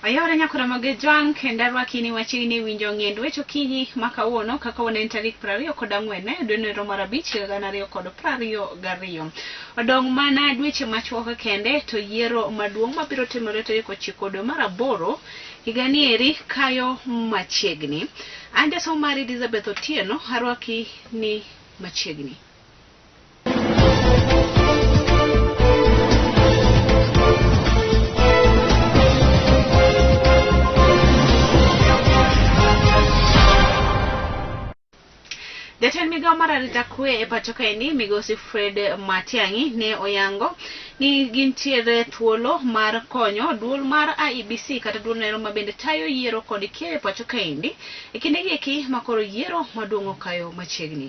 Ayore nyakora mage jwang kendo arwaki ni wachiegni winjo ng'end weche okinyi ma kawuono kaka waneno tarik 20 kod ang'wen dwe no mar abich higa gana ariyo kod prariyo gariyo. Odong' mana dweche machuok kende to yiero maduong' mabiro timore tarik ochiko dwe mar aboro higani eri kayo machiegni. An jasomo mari Elizabeth Otieno arwaki ni machiegni. Jatend migao mar arita kwe e pacho kaeni migosi Fred Matiang'i ne oyango ni gintiere thuolo mar konyo duol mar IEBC kata duol nero ma bende tayo yiero kod keyo e pacho kaendi e kindegi eki makoro yiero maduong' okayo machiegni.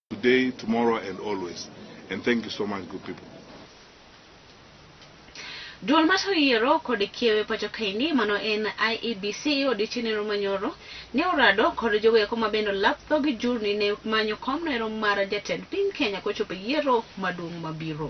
today, tomorrow, and always. And thank you so much, good people. Duol mar yiero kod kiewe pacho kaini mano en IEBC odiochieng' nero manyoro ne orado kod joweko ma bende olap dhog jurni ne manyo kom nero mar jatend piny Kenya kochopo yiero maduong' mabiro.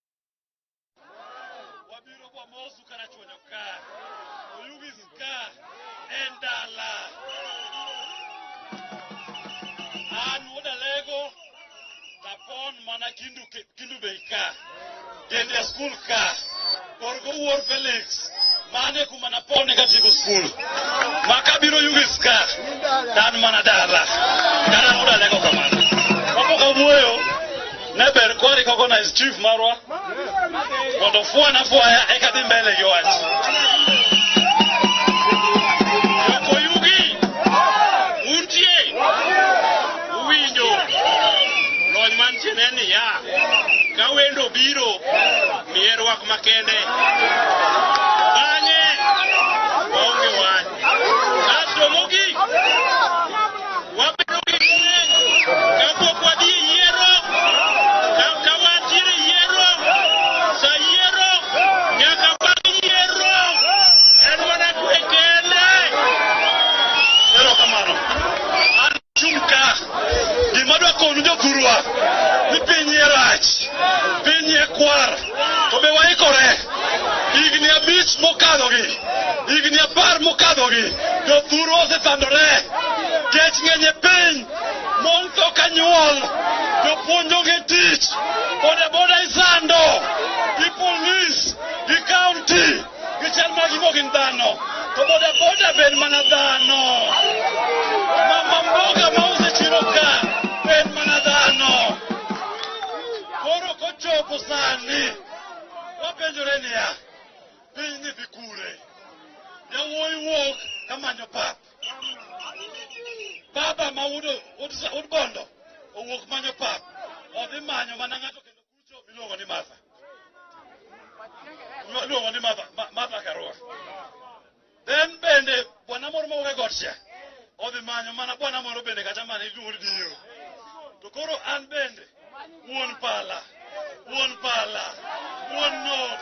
wabiro kwa mosu karachuonyo ka oyugis ka en dala an wuod alego napon mana kindu, kindu bei ka tiende skul ka korgo wuor felix mane kuma napone katieko skul ma kabiro yugis ka dan mana dala dala wuod alego kamano kapok awuoyo ne ber kwari ka kona is chief marwa mondo fwana fwaya eka dhi mbele gi wach jokoyugi untie uwinjo lony mantie ne niya ka wendo biro miye rwak makende Wabedo gi kapok wadhi e yiero, ka wantiere e yiero, sa yiero, nyaka bang' yiero, en mana kwe kende. Erokamano. An chung' ka, gima dwakonu jothurwa, ni piny e rach, piny e kwar. To be waikore? Higni abich mokadhogi, higni apar mokadhogi, jothuru osesandore. Kech ng'eny e piny, mon tho ka nyuol, jopuonj onge tich, bodaboda isando, gi polis, gi kaunti. Gichal ma gigo gin dhano, to boda boda be en mana dhano. Mama mboga ma uso e chiro ka be en mana dhano. Koro kochopo sani, wapenjore niya, piny ni dhi kure. Yawuoyi wuok kamanyo pap. Baba ma wuod wuod wuod bondo owuok manyo pap. Odhi manyo mana ng'ato Chuo miluongo ni Martha. Miluongo ni Martha, Ma- Martha Karua. Then bende bwana moro mawuok e got cha odhi manyo mana bwana moro bende kata mana iluongo ni Dio. To koro an bende wuon pala, wuon pala, wuon nok.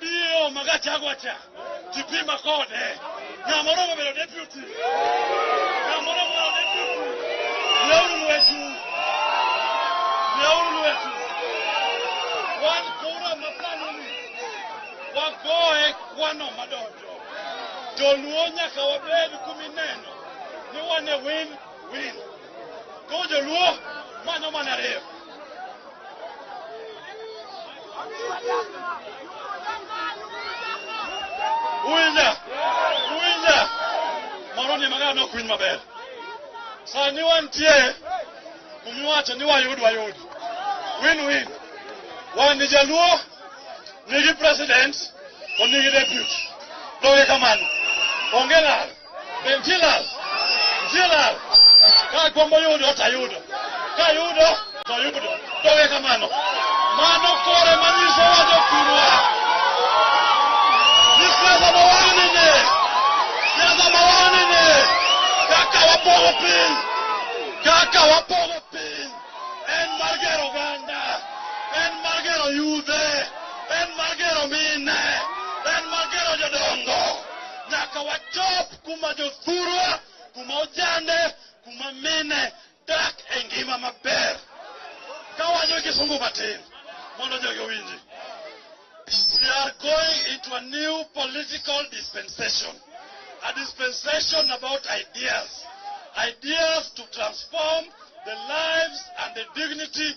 Dio magachagwa cha. Kipima kode. Nyamoro mabelo deputy. Nyamoro mabelo deputy. Leuru lwetu. Leuru lwetu. Wan kura masani ni. Wagoye kwano madonjo. Joluo nyaka wabed kumineno. Ni wane win win. Go to law, man no man are Uwinja, uwinja. Moro ni magana nok winy maber. Sani wantie kumiwacho ni wayud wayud. Win win. Wan ni jaluo nigi president to nigi deputy. Doge kamano. Onge lal. Bentilal, Bentilal, ka gombo yudo to ayudo, ka yudo to ayudo, to we kamano. Mano kore manyiso wa jopurwa. Ni siasa ma wan nene, siasa ma wan nene, kaka wapogo piny, kaka wapogo piny, en mar gero oganda, en mar gero yudhe, en mar gero mine, en mar gero jodongo. nyaka wachop kuma jothurwa kuma ojande kuma mine dak e ngima maber kawacho kisungu matin mondo jogi owinji we are going into a new political dispensation a dispensation about ideas ideas to transform the lives and the dignity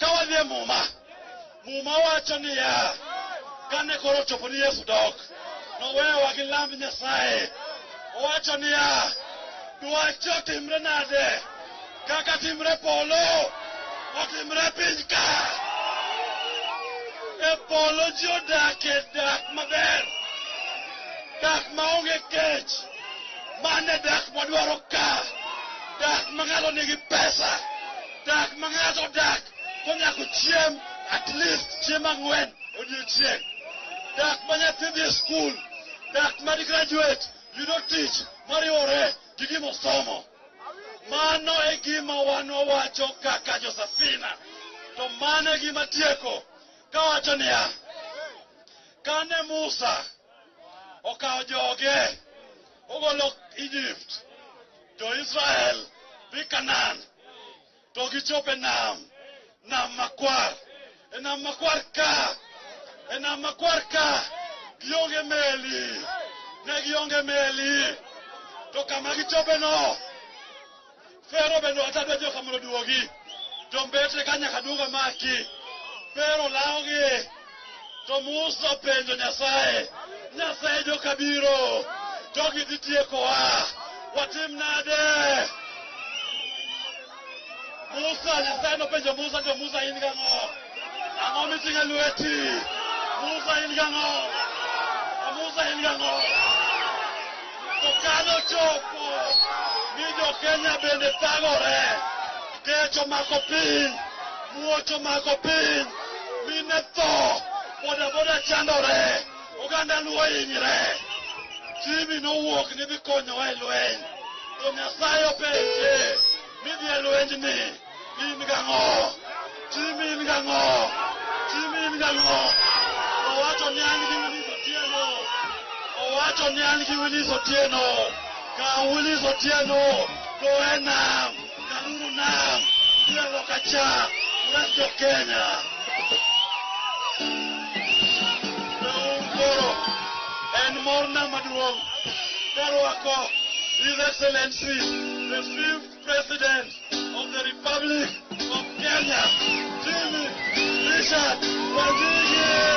Ka wadhi e Muma, Muma wacho niya, kane koro ochopo ni Yesu dok, noweyowa gi lamb Nyasaye. Owacho niya, dwachi otimre nade? Kaka timre polo, otimre e piny ka. E polo ji odakie dak maber, dak maonge kech. Mano e dak mwadwaro ka, dak ma ng'ato nigi pesa. Dak ma ng'ato odak konyako chiemb at least chiemb ang'wen odiechieng'. Dak ma nyathi dhi e skul, dak ma di graduate yudo tich mariwore gi gima osomo. Mano e gima wan wawacho kaka Josafina. To mano e gima tieko kawacho niya, kane Musa okawo joge ogolo Egypt, Jo-Israel dhi Kanaan to gichopo e nam, nam makwar. E nam makwar ka, e nam makwar ka gionge meli, ne gionge meli. To kama gichopeno, Fero bende wacho adwa joka mondo oduogi. Jombetre ka nyaka duogo maki. Fero lawogi. To Musa openjo Nyasaye, Nyasaye joka biro, jogi dhi tiekowa, watim nade? Musa, Nyasaye nopenjo Musa, jo Musa in gang'o? Ang'o miting'o e lweti? Musa in gang'o? A Musa in gang'o? To kane ochopo ni jo Kenya bende thagore, Kech omako piny, muoch omako piny, mine tho, bodaboda chandore, oganda luo hinyre. Jimmy nowuok ni dhi konyowa e lweny, to Nyasaye openje ni dhi e lwenyni in gang'o? Jimmy in gang'o? Jimmy in gang'o? Owacho ni an gi Willis Otieno, owacho ni an gi Willis Otieno, kaw Willis Otieno, go e nam. Kaluru nam, biro loka cha, uras jo Kenya. Nauru koro, en morna maduong' karwako His Excellency, the fifth President of the Republic of Kenya, Jimmy Richard Wangige.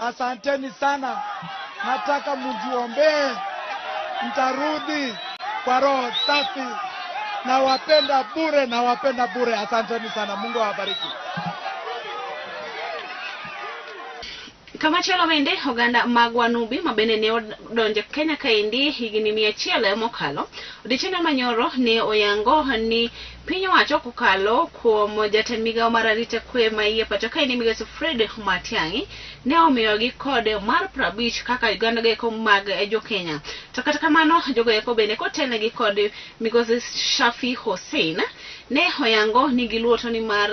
Asanteni sana, nataka mjiombee, mtarudi kwa roho safi. Nawapenda bure, nawapenda bure. Asanteni sana, Mungu awabariki. Kamachielo bende oganda mag Wanubi ma bende ne odonjo Kenya kaendi higni mia achiel mokalo, odiechieng' manyoro ne oyango ni Piny owacho kokalo kuom jatend migao mar arita kwe ma iye pacho kae ni migaso Fred Matiang'i ne omiyogi kod mar prabich kaka Uganda goeko mag jo Kenya. To kata kamano jogoeko bende kotelnegi kod migosi Shafi Hussein ne oyango ni giluo to ni mar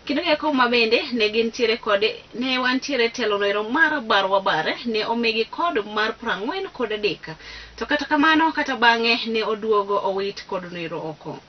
kendo goeko ma bende ne gintiere kod ne wantiere telo noero mar bar wabare ne omigi kod mar prang'wen kod adek. To kata kamano kata bang'e ne oduogo owit kod noero oko.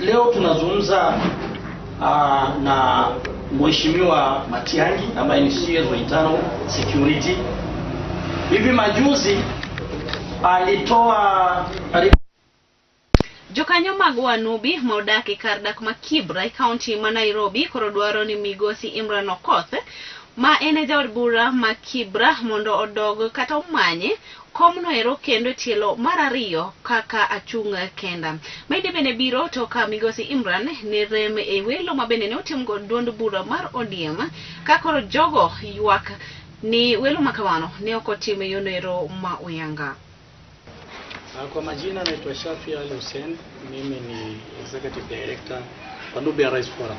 Leo tunazungumza uh, na Mheshimiwa Matiang'i ambaye ni CS wa internal security. Hivi majuzi alitoa Jokanyo mag Wanubi ma odak e kar dak ma Kibra e kaunti ma Nairobi koro dwaro ni migosi Imran Okoth ma en e jaod bura ma Kibra mondo odog kata omanye Komno ero kendo e tielo mar ariyo kaka achung' kenda. Mainde bende biro to ka migosi Imran ne rem e welo ma bende ne otimgo duond bura mar ODM ka koro jogo ywak ni welo ma kamano ne ok otim e yono ero ma oyanga. Ah, kwa majina naitwa Shafi Ali Hussein, mimi ni Executive Director wa Nubia Rice Forum.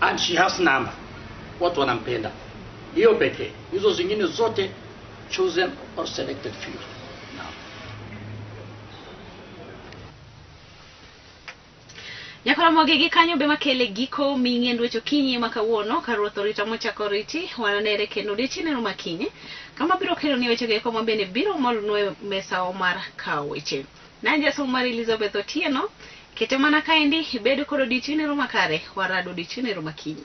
and she has number watu wanampenda hiyo pekee hizo zingine zote chosen or selected few Naam. nyakoromoge gi kanyo be makele giko ming'e ndwecho kinyi ma kawuono ka ruoth orita mochako riti wananere kendo odiechieneno makinye kama biro keloni wechego eko ma bende biro molonwa e mesawa mar kawo weche Nan jasom mar Elizabeth Otieno. Kete mana kaendi ibedo kod odiochieng' nero makare, warado odiochieng' nero makinyi.